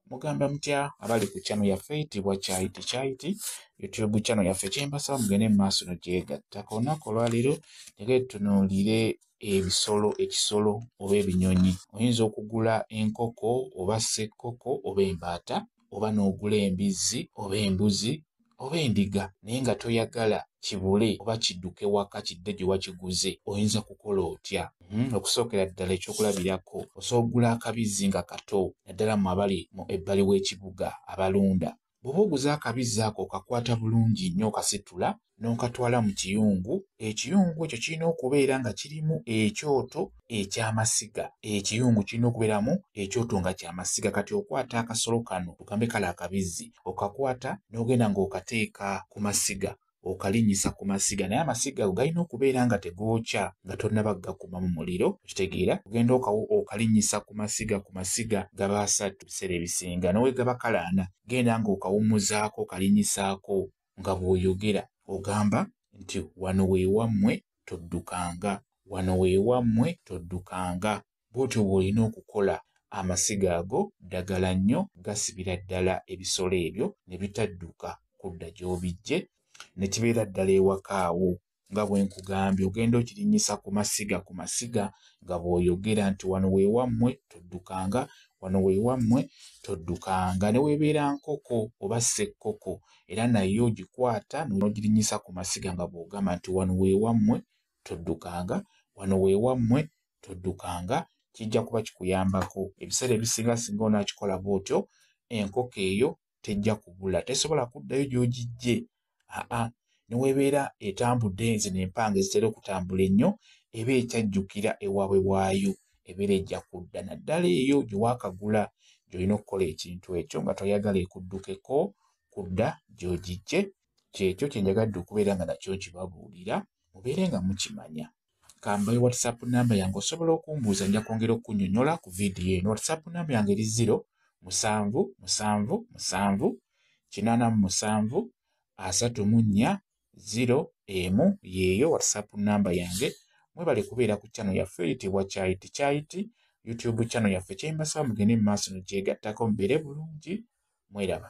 mugamba mutya abali ku channel yaffe tibwa kyayiti kyayiti youtube channel yaffe kyembasaba mugende mu maaso no gyegatta ku lunaku olwaleero tege tunuulire ebisolo ekisolo oba ebinyonyi oyinza okugula enkoko oba sekkoko oba embaata oba n'ogula embizzi oba embuzi oba endiga naye nga toyagala kibule oba kidduke waka kidde gye wakiguze oyinza kukola otya hmm, okusookera ddala ekyokulabirako osobola okugula akabizzi nga kato naddala mu abali mu ebbali w'ekibuga abalunda bw'oba oguze akabizzi ako okakwata bulungi nnyo okasitula n'okatwala mu kiyungu ekiyungu ekyo kirina okubeera nga kirimu ekyoto ekyamasiga ekiyungu kirina okubeeramu ekyoto nga kyamasiga kati okwata akasolo kano tugambe kale akabizzi okakwata n'ogenda ng'okateeka ku masiga okalinnyisa ku masiga naye amasiga ago galina okubeera nga tegookya nga tonnaba gakuma mu muliro okitegeera ogenda okalinnyisa ku masiga ku masiga gaba asatu biseera ebisinga nowegaba kalaana genda ng'okawummuzaako okalinyisaako nga bw'oyogera. Ogamba nti, Wano we wammwe, toddukanga. Wano we wammwe, toddukanga. Bw'otyo bw'olina okukola. Amasiga ago ddagala nnyo, gasibira ddala ebisolo ebyo ne bitadduka kudda gy'obiggye, ne kibeera ddala ewaka wo. nga bwe nkugambye ogenda okirinnyisa ku masiga ku masiga nga bw'oyogera nti wano weewammwe toddukanga wano weewammwe toddukanga ne weebeera nkoko oba ssekkoko era naye ogikwata n'ogirinnyisa ku masiga nga bw'ogamba nti wano weewammwe toddukanga wano weewammwe toddukanga kijja kuba kikuyambako ebiseera ebisinga singa onaakikola bw'otyo enkoko eyo tejja kubula tesobola kuddayo gy'ogijje aa newebeera etambudde nze nempanga ezitera okutambula ennyo eba ekyajjukira ewaabwe waayo ebeera ejja kudda naddala eyo gye waakagula gy'olina okukola ekintu ekyo nga toyagala ekuddukeko kudda gy'ogijje kyekyo kye njagadde okubeera nga nakyo nkibabuulira mubeere nga mukimanya kambayo whatsapp namba yange osobola okumbuuza nja kwongera okunyonyola ku vidiyo eno whatsapp namba yange eri ziro musanvu musanvu musanvu kinaana mu musanvu asatu mu nnya ziro emu yeeyo whatsapp namba yange mwebale kubeera ku chano yaffe eyitibwa kyayiti kyayiti youtube chano yaffe kyembasaba mugende mu maaso nogyegattako mubeere bulungi mweraba